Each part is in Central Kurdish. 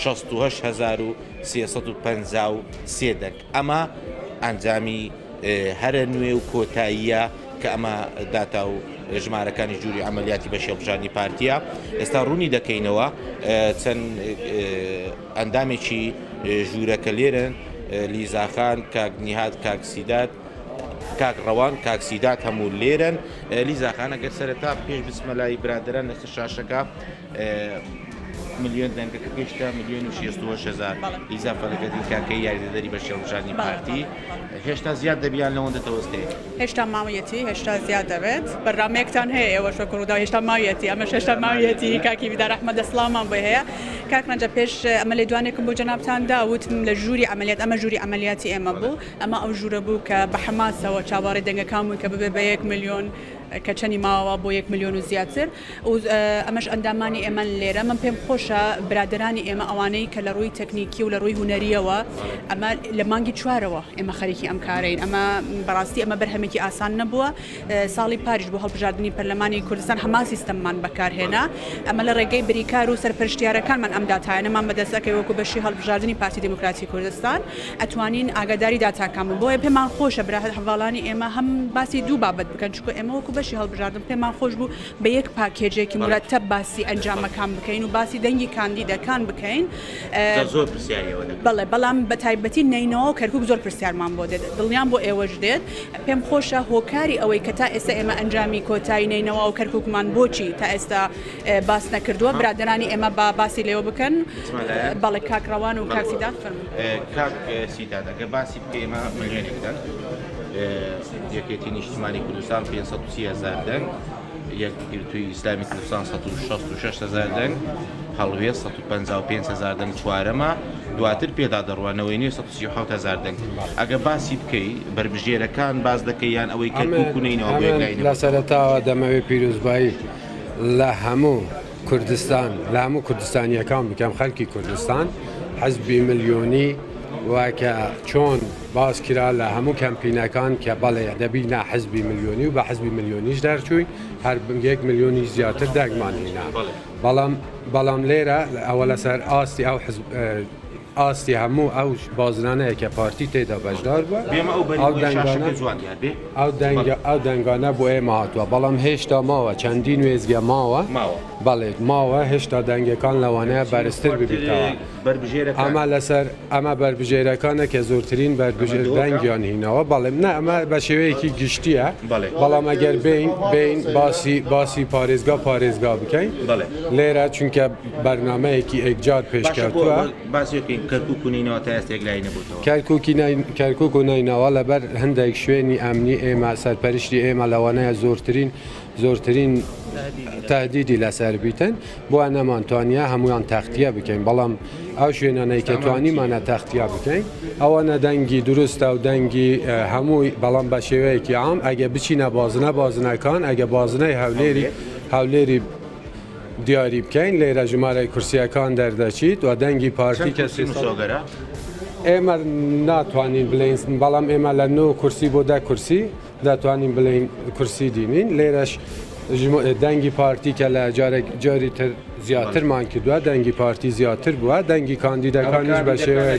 شەست و هەشت هەزار و سێ سەد و پەنجا و سێ دەنگ ئەمە ئەنجامی هەرە نوێ و کۆتاییە کە ئەمە داتا و ژمارەکانی جووری ئەعملیاتی بەشی هەڵبژاردنی پارتیە ئێستا ڕوونی دەکەینەوە چەند ئەندامێکی ژوورەکە لێرن لیزاخان کاک نیهاد کاک سیداد کاک ڕەوان کاک سیداد هەموو لێرن لیزاخانە گەر سەرەتا پێش بچمە لای برادەران لەسەر شاشەکە ملیۆن دەنگە کە گەیشتە ملیۆن و شێست و هەشت هەزار ئیزا فەرەکەتی کاکەی یاریدەدەری بە شێوەشانی پارتی هێشتا زیاد دەبیان لەوەندە تەوەستێ هێشتا ماویەتی هێشتا زیاد دەبێت بەرنمێکتان هەیە ئێوە شە کوڕدا هێشتا ماویەتی ئەمە شێشتا ماویەتی کاکی بیدا رەحمە دەسڵامان بۆ هەیە کاک ڕەنجە پێش ئەمە لێ دوانێکم بۆ جەنابان داوتم لە ژووری ئەمەلیات ئەمە ژووری ئەمەلیاتی ئێمە بوو ئەمە ئەو ژوورە بوو کە بە حەماسەوە چاوەڕێ دەنگەکان بوون کە ببێ بە یەک ملیۆن کە چەنی ماوە بۆ یەک ملیۆن و زیاتر ئەمەش ئەندامانی ئێمەن لێرە من پێم خۆشە برادرانی ئێمە ئەوانەی کە لە ڕووی تەکنیکی و لە ڕووی هوەریەوە ئەمە لە مانگی چوارەوە ئێمە خەریکی ئەم کارین ئەمە بەڕاستی ئەمە بەرهەمێکی ئاسان نەبووە ساڵی پاریش بۆ هەڵبژاردننی پەرلەمانی کوردستان هەما سیستممان بەکارهێنا ئەمە لە ڕێگەی بریکار و سەرپەرشتیارەکانمان ئەم داتایانەمان بەدەستەکەی وەکو بەشی هەڵبژاردننی پارتی دموکراتی کوردستان ئەتوانین ئاگاداری داتاکان بۆیە پێمان خۆشە برا هەر هەواڵانی ئێمە هەم باسی دوو بابەت بکەن چونکە ئێمە وەکو بەشی هەڵبژاردن پێمان خۆش بوو بە یەک پاکێجێکی مرەتەب باسی ئەنجامەکان بکەین و باسی دەنگی کاندیدەکان بکەین زۆر پرسیاریەوە بەڵێ بەڵام بە تایبەتی نینەوە کەرکک زۆر پرسیارمان بۆ دێت دڵنیان بۆ ئێوەش دێت پێم خۆشە هۆکاری ئەوەی کە تا ئێستا ئێمە ئەنجامی کۆتایی نینەوە و کەرککمان بۆچی تا ئێستا باس نەکردووە برادرانی ئێمە با باسی لێوە بکەن بەڵێ کاکڕەوان و کاکسیدات فەرمو کاک سیدادەگە باسی ئێمە ملیۆنێک دەنگ، یەکێتی نیشتمانی کوردستان 530 هەزار دەنگ، یەکگرتووی ئیسلامی کوردستان 166 هەزار دەنگ، هەڵوێ 155 هەزار دەنگ چوارەمە، دواتر پێدا دەڕوانەوەی نوێ 137 هەزار دەنگ. ئەگە باسی بکەی بەربژێرەکان باز دەکەی یان ئەوەی کە کوکونینەوە بۆ یەکلاینەوە. لە سەرەتاوە دەمەوێت پیرۆزبایی لە هەموو کوردستان لە هەموو کوردستانیەکان بکەم خەلکی کوردستان حزبی ملیۆنی وکە چۆن باس کرا لە هەموو کەمپینەکان کە بەڵێ دەبی نا حزبی ملیۆنی و بە حزبی ملیۆنیش دەرچووی هەر بنگێک ملیۆنی زیاتر دەگمان هینا بەڵام بەڵام لێرە ئەوە لەسەر ئاستی ئەو ئاستی هەموو ئەو بازنانەیە کە پارتی تێدا بەشدار بووە، ئەو دەنگانە بۆ ئێمە هاتووە، بەڵام هێشتا ماوە چەندین وێستگە ماوە، بەڵێ ماوە هێشتا دەنگەکان لەوانەیە بەرزتر ببێتەوە، ئەمە لەسەر ئەمە بەربژێرەکانە کە زۆرترین بەربژێر دەنگیان هینەوە، بەڵێ نا ئەمە بە شێوەیەکی گشتیە، بەڵام ئەگەر بێین بێین باسی باسی پارێزگا پارێزگا بکەین لێرە چونکە. بەرنامەیەکی ئێکجار پێشکەوتووە. باسی بکەین کەرکوک و نەینەوا تا ئێستە یەکلایی نەبووەتەوە. کەرکوک و نەینەوا لەبەر هەندێک شوێنی ئەمنی ئێمە سەرپەرشتی ئێمە لەوانەیە زۆرترین زۆرترین تەهدیدی لەسەر بیتن بۆیە نەمانتوانیە هەموویان تەختیە بکەین بەڵام ئەو شوێنانەی کە توانیمانە تەختیا بکەین ئەوانە دەنگی دروستە و دەنگی هەمووی بەڵام بە شێوەیەکی عام ئەگە بچینە بازنە بازنەکان ئەگە بازنەی هەولێری هەولێری دیاری بکەین لێرە ژمارەی کورسیەکان دەردەچیت و دەنگی پارتی کە سی مسۆگەرە ئێمە ناتوانین بلین بەڵام ئێمە لە نۆ کورسی بۆ دە کورسی دەتوانین بلین کورسی دینین لێرەش دەنگی پارتی کە لە جارێک جاری تر زیاترمان کردووە دەنگی پارتی زیاتر بووە دەنگی کاندیدەکانیش بە شێوەیە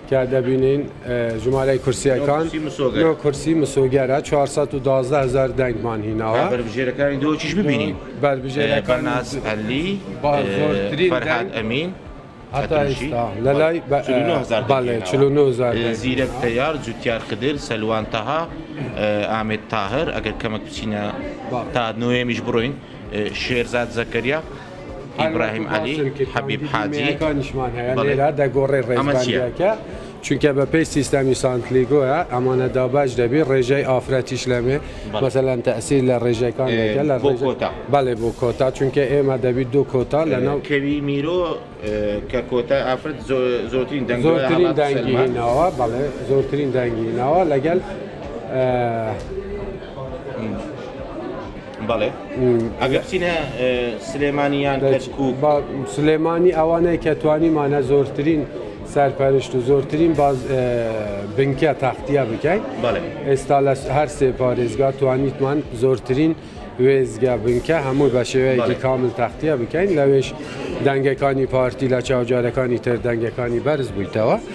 تیا دەبینین ژمارەی کورسییەکان نۆ کورسی مسۆگەرە 412 هزار دەنگمان هیناوە بەربژێرەکانی دۆچیش ببینین بەربژێرەکان ناسپەلی زۆرترین فەرهاد ئەمین لە لای زیرەک تەیار جوتیار خدر سەلوان تەها ئامێت تاهر ئەگەر کەمەک بچینە تا نوێمیش بڕۆین شێرزاد زەکەریا ئیبراهیم عەلی حەبیب حاجی بەڵێ ئەمە چیە؟ چونکە بە پێی سیستەمی سانتلیگۆە ئەمانە دابش دەبی ڕێژای ئافرەتیش لەمێ مەسەلەن تەسیر لە ڕێژەکان لە کۆتا بەڵێ بۆ کۆتا چونکە ئێمە دەبیت دو کۆتا لە ناو کەوی میرۆ کە کۆتا ئافرەت زۆرترین دەنگ زۆرترین دەنگی ناوە بەڵێ زۆرترین دەنگی ناوە لەگەل بەڵێ ئەگەر بچینە سلێمانی یان کەرکووک با سلێمانی ئەوانەی کە توانیمانە زۆرترین سەرپەرشت و زۆرترین باز اه، بنکە تاختیا بکەین بەڵێ ئێستا لە هەر سێ پارێزگا توانیتمان زۆرترین وێزگە بنکە هەموو بە شێوەیەکی بەڵێ. کامل تاختیا بکەین لەوێش دەنگەکانی پارتی لە چاوجارەکانی تر دەنگەکانی بەرز بوویتەوە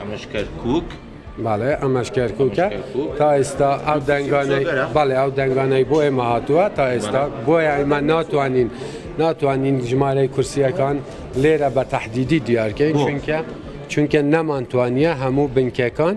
ئەمەش کەرکک باڵێ ئەمەش کەرککە تا ئێستا ئەو دەنگانەی باڵێ ئەو دەنگانەی بۆ ئێمە هاتووە تا ئێستا بۆیە ئەمە ناتوانین ناتوانین ژمارەی کورسیەکان لێرە بە تهدیدی دیارکەین چونکە چونکە نەمانتوانیە هەموو بنکەکان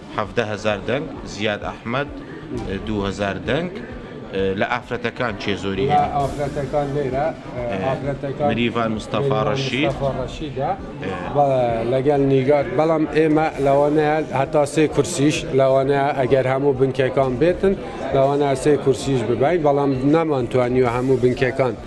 حەڤدە هەزار دەنگ زیاد ئەحمەد دوو هەزار دەنگ لە ئافرەتەکان کێ زۆری هەیە؟ لە ئافرەتەکان لێرە ئافرەتەکان مریڤان مستەفا ڕەشید مستەفا ڕەشیدە لەگەڵ نیگار بەڵام ئێمە لەوانەیە هەتا سێ کورسیش لەوانەیە ئەگەر هەموو بنکەکان بێتن لەوانە سێ کورسیش ببین بەڵام نەمانتوانیوە هەموو بنکەکان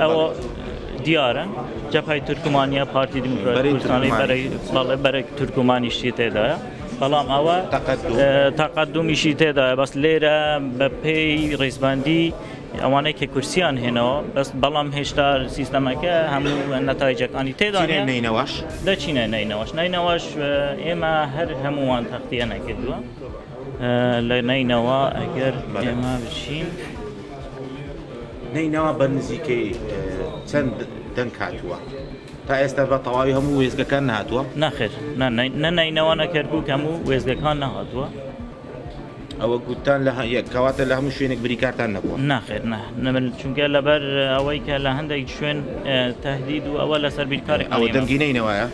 ئەوە دیارە جەپای تورکمانیە پارتی دیموکراتیکانی بەرەی تورکمانیشتی تێدایە بەڵام ئەوە تاقدومیشی تێدایە بەس لێرە بە پێی ڕیزبندی ئەوانەی کە کورسیان هێنەوە بەس بەڵام هێشتا سیستەمەکە هەموو نەتایجەکانی تێدا نینەوەش دەچینە نینەوەش نینەوەش ئێمە هەر هەمووان تەختیە نەکردووە. لە نەینەوا ئەگەر ئێمە بچین. نەینەوا بە نزیکەی چەند دەنگ هاتووە تا ئێستا بە تەواوی هەموو وێزگەکان نهاتووە ناخێر نە نەینەوە نەکەرکک هەموو وێزگەکان نهاتووە ئەوە گوتان لە کەواتە لە هەموو شوێنێک بریکارتان نەبووە ناخێر نەمن چونکە لەبەر ئەوەی کە لە هەندێک شوێن تهدید و ئەوە لەسەر بیرکاری ئەوە دەنگینەی نەوەە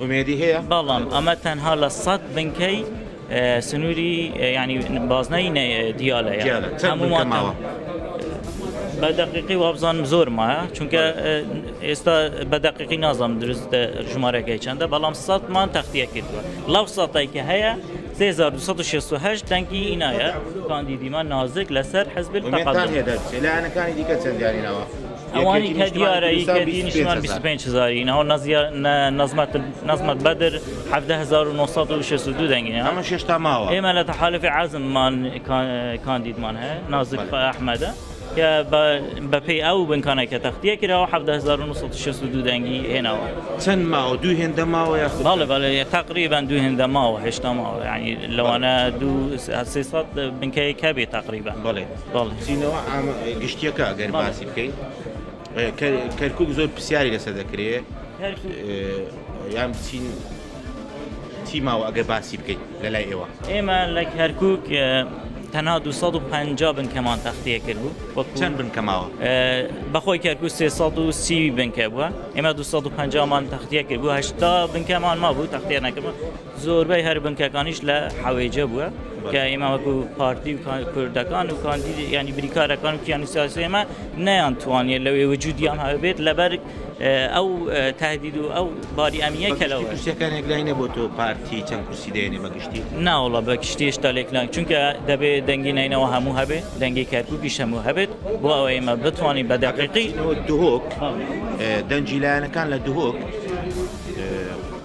ئومێدی هەیە؟ بەڵام ئەمە تەنها لە سەد بنکەی سنووری ینی بازنەی دیالە هەمووماوە. بە دقیقی وابزانم زۆر مایە چونکە ئێستا بە دقیقی نازانم دروست ژمارەکەی چنددە بەڵام سەمان تەختیە کردووە لەو سەتای کە هەیە 1960 دەنگی ئینایە کاندیدیمان نازک لەسەر حزب لایەنەکانی دیکە چەندیانینەوە. ئەوانی کە دیارە ی کە دی نیشتمان 25 هزاری ناو نەزیە نەزمەت نەزمەت بەدر 1962 دەنگی ئەمە شێشتا ماوە ئێمە لە تەحالفی عزممان کاندیدمان هەیە نازک ئەحمەدە کە بەپی ئەو بنکانە کە تەختیە کراوە 1962 دەنگی هێناوە چەند ماوە دوو هێندە ماوە یاخڵ بەڵێ تقریبان دوو هێندە ماوە هێشتا ماوە ینی لەوانە دوو سێ سەد بنکەیەکە بێ تقریبان بڵێ بچینەوە گشتیەکە گەر باسی بکەین کەرکک زۆر پرسیاری لەسەر دەکرێت یان بچین چی ماوە ئەگەر باسی بکەیت لە لای ئێوە ئێمە لە کەرکک تەنها 250 بنکەمان تەختەیە کرد بوو وەکچەند بنکەماوە بەخۆی کەرکو 330 بنکە بووە ئێمە 250مان تەختەیە کرد بوو هشتا بنکەمان ما بوو تەختێ نەکردبوو زۆربەی هەر بنکەکانیش لە حەوێجە بووە کە ئێمە وەکو پارتی و کوردەکان و کاندید یعنی بریکارەکان و کیانی سیاسی ئێمە نیان توانیە لەوێ وجودیان هەبێت لەبەر ئەو تهدید و ئەو باری ئەمیە کەلەوە کورسەکانێک لای نەبوو تۆ پارتی چەند کورسی دێنێ بەگشتی ناوڵە بە کشتێشتا لێکلان چونکە دەبێت دەنگی نینەوە هەموو هەبێت دەنگی کەرکوکی هەموو هەبێت بۆ ئەوە ئێمە بتوانین بە دەقیقی دهۆک دەنجیلایەنەکان لە دهۆک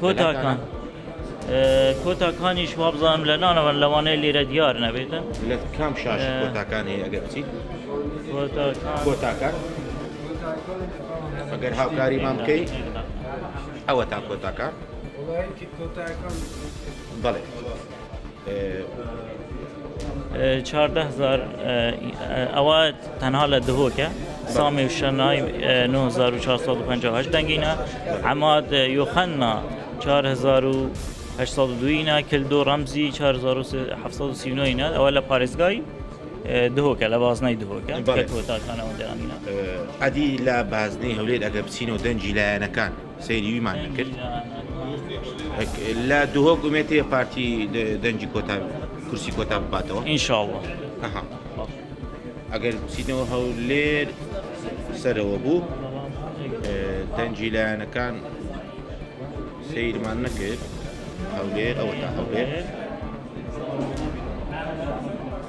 کۆتاکان کۆتاکانیش وابزانم لە نانەوەن لەوانەیە لێرە دیار نەبێتن لە کام شاش کۆتاکان هەیە ئەگەر بچیت کۆتاکان ئەگەر هاوکاری مام بکەی ئەوە تا کۆتاکان بەڵێ چواردە هەزار ئەوە تەنها لە دهۆکە سامی شەنای 1950 دەنگینە ئەماد یۆخەننا 1970 کل دو ڕەمزی 1970 ئەوە لە پارێزگای دهۆکە لە بازنای دهۆکە تاکانەوە دەرانە ئەدی لە بازنەی هەولێر ئەگە بچینەوە دەنجی لایەنەکان سەیری وی مان نەکرد لە دهۆک ئومێتێ پارتی دەنجی کۆتا کورسی کۆتا بباتەوە ئینشاءله ئەگەر بچینەوە هەولێر سەرەوە بوو دەنجی لایەنەکان سیرمان نەکرد هەولێر ئەوە تا هەولێر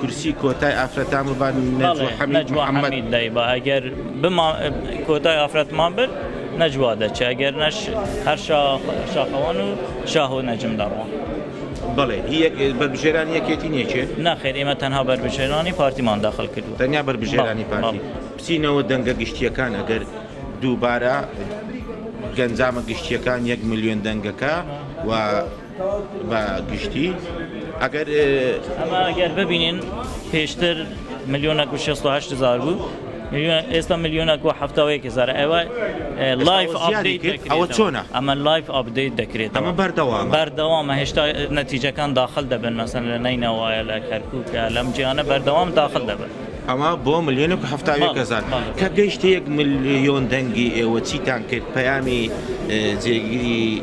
کورسی کۆتای ئافرەتان ببا نەجوە حەمید محەمەد دایبا ئەگەر بما کۆتای ئافرەتمان برد نەجوا دەچێ ئەگەر نەش هەر شاخەوان و شاهۆ نەجم دەڕۆن بڵێ بەربژێران یەکێتی نێچێت ناخێر ئێمە تەنها بەربژێرانی پارتیمان داخل کرد تەنیا بەربژێرانی پارتی بچینەوە دەنگە گشتیەکان ئەگەر دووبارە گەنجامە گشتیەکان یەک ملیۆن دەنگەکە و بە گشتی ئەگەر ئەمە ئەگەر ببینین پێشتر ملیۆنەک و 6 هزار بوو ئێستا ملیۆنەک و هەفتاوەیەک هزار ئەوە لایف ئەوە چۆنە ئەمە لایف ئاپدەیت دەکرێت ئەمە بەردەوام بەردەوامە هێشتا نەتیجەکان داخل دەبن مەسەن لە نینەوەە لە کەرکووکە لەم جیانە بەردەوام داخل دەبن. ئەمە بۆ ملیۆن و هەفتاوێکەزار کە گەیشتە یەک ملیۆن دەنگی ئێوە چیتان کرد پەیامی جێگیری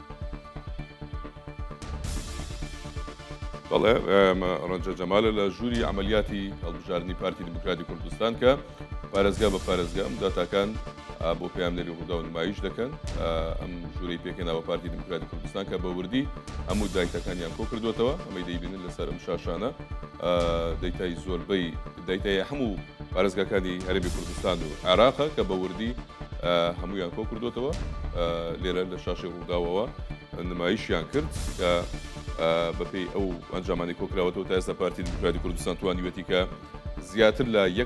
بەڵێ ڕەنجە جەمالە لە ژووری ئەعملیاتی هەڵبژاردننی پارتی دیموکراتی کوردستان کە پارێزگا بە پارێزگا ئەم داتاکان بۆ پامنەری ڕوودا و نمایش دەکەن ئەم ژووری پێکەنەوە پارتی دیموکراتی کوردستان کە بە وردی هەموو دایتەکانیان کۆ کردوێتەوە ئەمەی دەیبینن لەسەر ئەم شاشانە دەیتای زۆربەی دایتای هەموو پارێزگاکانی هەربی کوردستان و عێراقە کە بە وردی هەمویان کۆ کردوتەوە لێرە لە شاشی ڕووداوەوە نمایشیان کرد کە بەپی ئەو ئەنجامانی کۆکراوەەوە تا ئێستا پارتی دیموکراتی کوردستان توانیوێتی کە زیاتر لە یەک